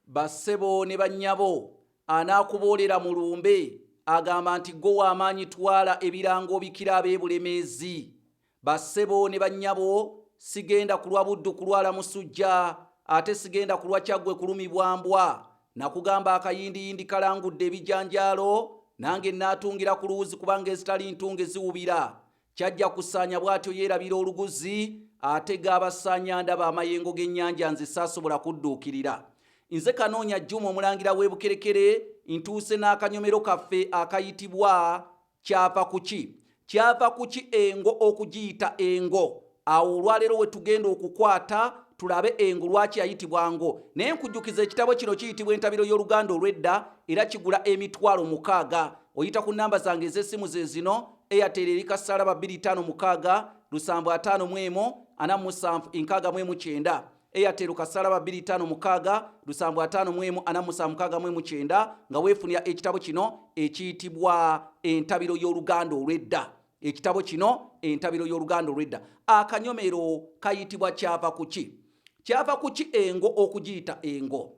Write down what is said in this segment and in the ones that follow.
Ba ssebo ne ba nnyabo, anaakuboolera mu lumbe agamba nti ggwe wa maanyi twala ebirango obikire ab'e Bulemeezi. Ba ssebo ne ba nnyabo, sigenda kulwa Buddu kulwala musujja, ate sigenda kulwa Kyaggwe kulumibwa mbwa. Nakugamba akayindiyindi kalangudde ebijanjaalo, nange nnaatungira ku luwuzi kubanga ezitali ntunge ziwubira. Kyajja kusaanya bw'atyo yeerabira oluguzi, ate g'abasaanya ndaba amayengo g'ennyanja nze saasobola kudduukirira. Nze Kanoonya Juma omulangira w'e Bukerekere ntuuse n'akanyomero kaffe akayitibwa Kyava kuki? Kyava kuki engo okugiyita engo? Awo olwaleero wetugenda okukwata tulabe engo lwaki yayitibwa ngo. Naye nkujukiza ekitabo kino kiyitibwa entabiro y'oluganda olwedda era kigula emitwalo mukaaga. Oyita ku namba zange ez'essimu zezino, Airtel eri kassaalaba bbiri taano mukaaga, lusanvu ataano mu emu, ana mu sanvu, inkaaga mu emu kyenda. Airtel kassaalaba bbiri taano mukaaga, lusanvu ataano mu emu, ana mu sanvu mukaaga mu emu kyenda nga wefunira ekitabo kino ekiyitibwa entabiro y'oluganda olwedda. Ekitabo kino, Entabiro y'Oluganda Olw'edda, akanyomero kayitibwa Kyava ku Ki? Kyava ku ki engo okugiyita engo?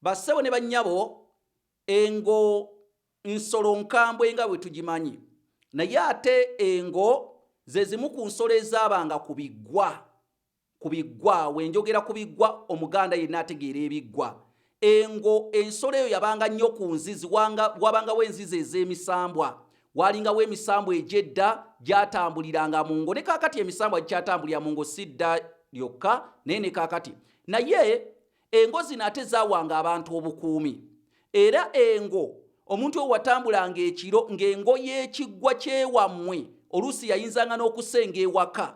Bassebo ne bannyabo, engo nsolo nkambwe nga bwe tugimanyi, naye ate engo ze zimu ku nsolo ezaabanga ku biggwa. Ku biggwa, we njogera ku biggwa, Omuganda yenna ategeera ebiggwa. Engo, ensolo eyo yabanga nnyo ku nzizi, wanga, wabangawo enzizi ez'emisambwa. Waalingawo emisambwa egy'edda gyatambuliranga mu ngo. Ne kaakati emisambwa gikyatambulira mu ngo, si dda lyokka, naye ne kaakati. Naye engo zino ate zaawanga abantu obukuumi. Era engo, omuntu oyo watambulanga ekiro ng'engo y'ekiggwa ky'ewammwe, oluusi yayinzanga n'okusenga ewaka.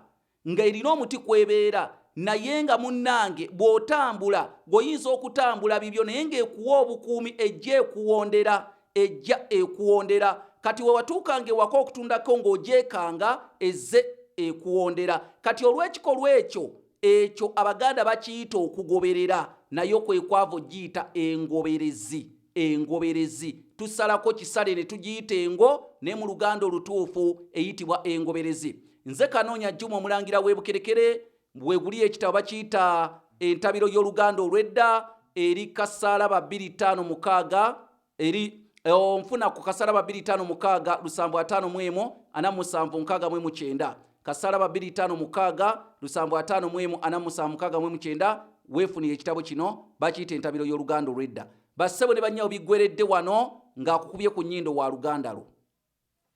nga erina omuti kwebeera naye nga munnange bw'otambula gweoyinza okutambula bibyo naye ng'ekuwa obukuumi ejja ekuwondera ejja ekuwondera kati wewatuukanga ewaka okutundako ng'ogyekanga ezze ekuwondera kati olw'ekikolwa ekyo ekyo abaganda bakiyita okugoberera nayo kwekwava ogiyita engoberezi. Engoberezi, Tusalako kisale ne tugiyita engo naye mu Luganda olutuufu eyitibwa engoberezi. Nze Kanoonya Juma Omulangira w'e Bukerekere we guli ekitabo bakiyita Entabiro y'Oluganda olw'edda eri Kasaalaba 256 eri onfuna ku Kasaalaba 256 lusanvu ataano mu emu ana mu musanvu nkaaga mu emu kyenda. Kasala babiri tano mukaaga lusambu ataano mwemu ana musanvu mukaaga mwemu kyenda weefunira ekitabo kino bakiyita entabiro y'oluganda olwedda. Bassebo ne bannyawo biggweredde wano ng'akukubye ku nnyindo wa luganda lwo.